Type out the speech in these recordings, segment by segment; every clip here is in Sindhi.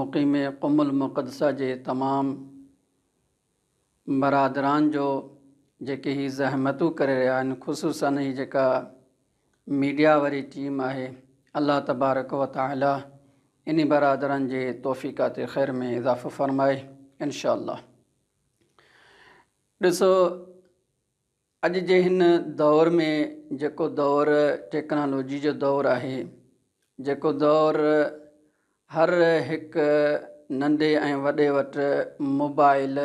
مقيم قم المقدسه جي تمام برادران جو جيڪي هي زحمتون ڪري رهيا آهن خصوصا هي جيڪا ميڊيا واري ٽيم آهي الله تبارڪ و تعالي انهي برادران جي توفيقات خير ۾ اضافو فرمائي انشاء الله ڏسو اڄ جي هن دور ۾ جيڪو دور ٽيڪنالاجي جو دور آهي، جيڪو دور هر هڪ ننڍي ۽ وڏي وٽ موبائل،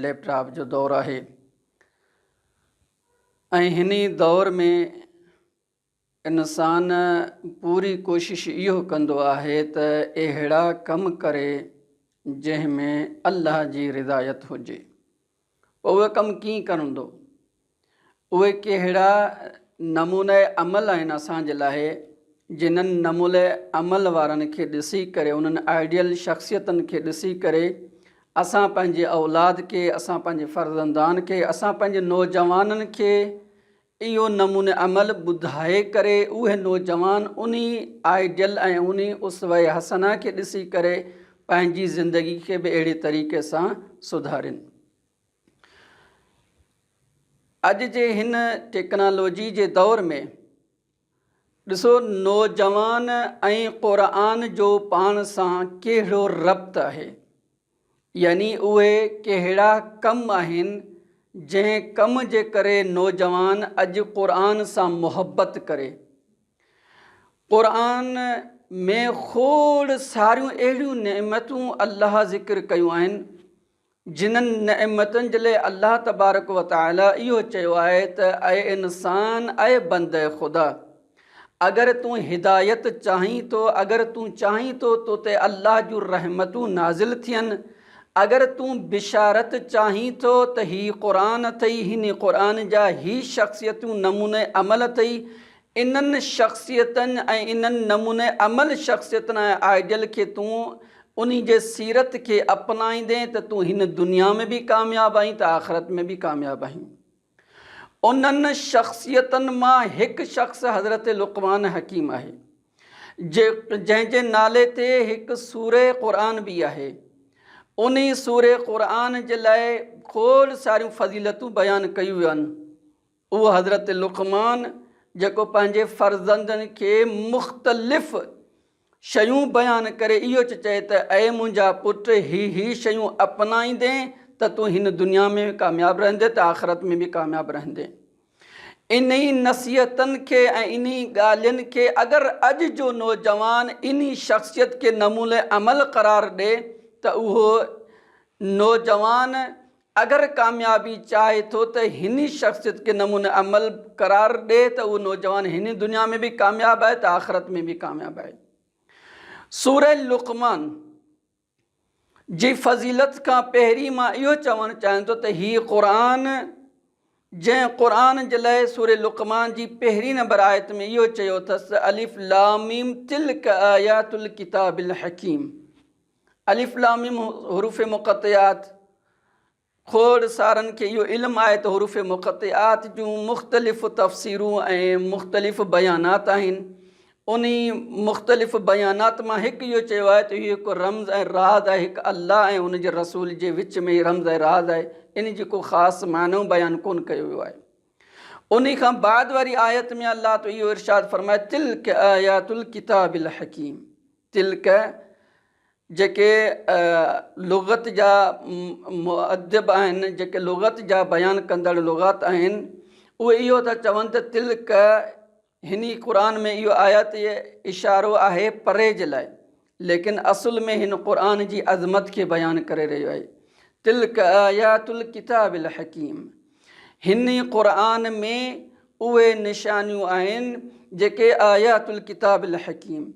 ليپ ٽاپ جو دور آهي ۽ هن ئي دور ۾ انسان پوري ڪوشش اهو ڪندو آهي ته اهڙا ڪم ڪري جنهن ۾ الله جي رضايت هجي. پوء اهي ڪم ڪيئن ڪرندو؟ اهي ڪهڙا نمونه عمل آهن اسان جي لاء جنهن نمونه عمل وارن کي ڏسي ڪري، انهن آئيڊيل شخصيتن کي ڏسي ڪري اسان پنهنجي اولاد کي، اسان پنهنجي فرزندان کي، اسان پنهنجي نوجوانن کي اهو نمون عمل ٻڌائي ڪري اهي نوجوان انهي آئيڊيل ۽ انهي اسوه حسنه کي ڏسي ڪري پنهنجي زندگي کي به اهڙي طريقي سان سڌارين. اڄ جي هن ٽيڪنالاجي جي دور ۾ ڏسو نوجوان ۽ قرآن جو پاڻ سان ڪهڙو ربط آهي. يعني اهي ڪهڙا ڪم آهن جنهن ڪم جي ڪري نوجوان اڄ قرآن سان محبت ڪري. قرآن ۾ کوڙ ساريون اهڙيون نعمتون الله ذڪر ڪيون آهن جنھن نعمتن جي لاء الله تبارڪ وتعالي اهو چيو آهي ته اي انسان اي بنده خدا! اگر تون هدايت چاهين ٿو، اگر تون چاهين ٿو تو تي الله جون رحمتون نازل ٿين، اگر تون بشارت چاهين ٿو ته هي قرآن اٿئي، هن قرآن جا هي شخصيتون نموني عمل اٿئي، انهن شخصيتن ۽ انهن نموني عمل شخصيتن ۽ آئيڊيل کي تون انهي جي سيرت کي اپنائيندين ته تون هن دنيا ۾ به ڪامياب آهين ته آخرت ۾ به ڪامياب آهين. انهن شخصيتن مان هڪ شخص حضرت لقمان حڪيم آهي، جنهن جي نالي تي هڪ سوره قرآن به آهي. انهي سوره قرآن جي لاء کوڙ ساريون فضيلتون بيان ڪيون ويون. اهو حضرت لقمان جيڪو پنهنجي فرزندن کي مختلف. شيون بيان ڪري اهو چ چئي ته اي منهنجا پٽ هي هي شيون اپنائيندين ته تون هن دنيا ۾ به ڪامياب رهندين ته آخرت ۾ به ڪامياب رهندين. انهي نصيحتن کي ۽ انهي ڳالهين کي اگر اڄ جو نوجوان انهي شخصيت کي نموني عمل قرار ڏي ته اهو نوجوان اگر ڪاميابي چاهي ٿو ته هني شخصيت کي نموني عمل قرار ڏي ته اهو نوجوان هني دنيا ۾ به ڪامياب آهي ته آخرت ۾ به ڪامياب آهي. سورة لقمان جي فضيلت کان پهرين مان اهو چوڻ چاهيان ٿو ته هي قرآن جنهن قرآن جي لئه سورة لقمان جي پهرين نمبر آيت ۾ اهو چيو اٿس ته الف لام ميم تلڪ آيات الڪتاب الحڪيم. الف لام ميم حروف مقطعات کوڙ سارن کي اهو علم آهي ته حروف مقطعات جون مختلف تفسيرون ۽ مختلف بيانات آهن انهي مختلف بيانات مان هڪ اهو چيو آهي ته اهو هڪ رمز ۽ راز آهي هڪ الله ۽ ان جي رسول جي وچ ۾ هي رمز ۽ راز آهي انهي جي ڪو خاص معنو بيان ڪون ڪيو ويو آهي انهي کان بعد واري آيت ۾ الله تو اهو ارشاد فرمائي تلڪ آيات الڪتاب الحڪيم تلڪ، جيڪي لغت جا مؤدب آهن، جيڪي لغت جا بيان ڪندڙ لغات آهن، اهي اهو ٿا چون ته تلڪ، هني قرآن ۾ اهو آيات اشارو آهي پري جي لاء، ليڪن اصل ۾ هن قرآن جي عظمت کي بيان ڪري رهيو آهي، تلڪ آيات الڪتاب الحڪيم، هن ئي قرآن ۾ اهي نشانيون آهن جيڪي آيات الڪتاب الحڪيم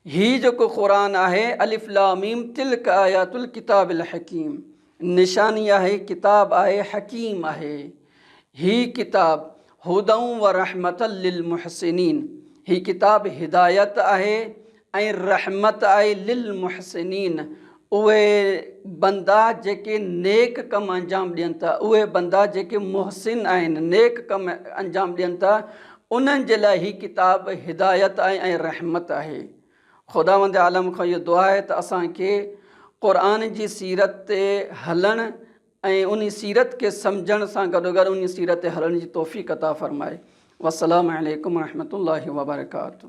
هي جيڪو قرآن آهي الف لام ميم تلک آيات الڪتاب الحڪيم نشاني آهي ڪتاب آهي حڪيم آهي هي ڪتاب هدئ ورحمة للمحسنين هي ڪتاب هدايت آهي ۽ رحمت آهي للمحسنين، اهي بندا جيڪي نيڪ ڪم انجام ڏين ٿا، اهي بندا جيڪي محسن آهن، نيڪ ڪم انجام ڏين ٿا، انهن جي لاء هي ڪتاب هدايت آهي ۽ رحمت آهي. خداوند عالم کان اهو دعا آهي ته اسان کي قرآن جي سيرت تي هلڻ ۽ انهي سيرت کي سمجهڻ سان گڏوگڏ انهي سيرت تي هلڻ جي توفيق عطا فرمائي. والسلام عليڪم ورحمة الله وبرڪاته.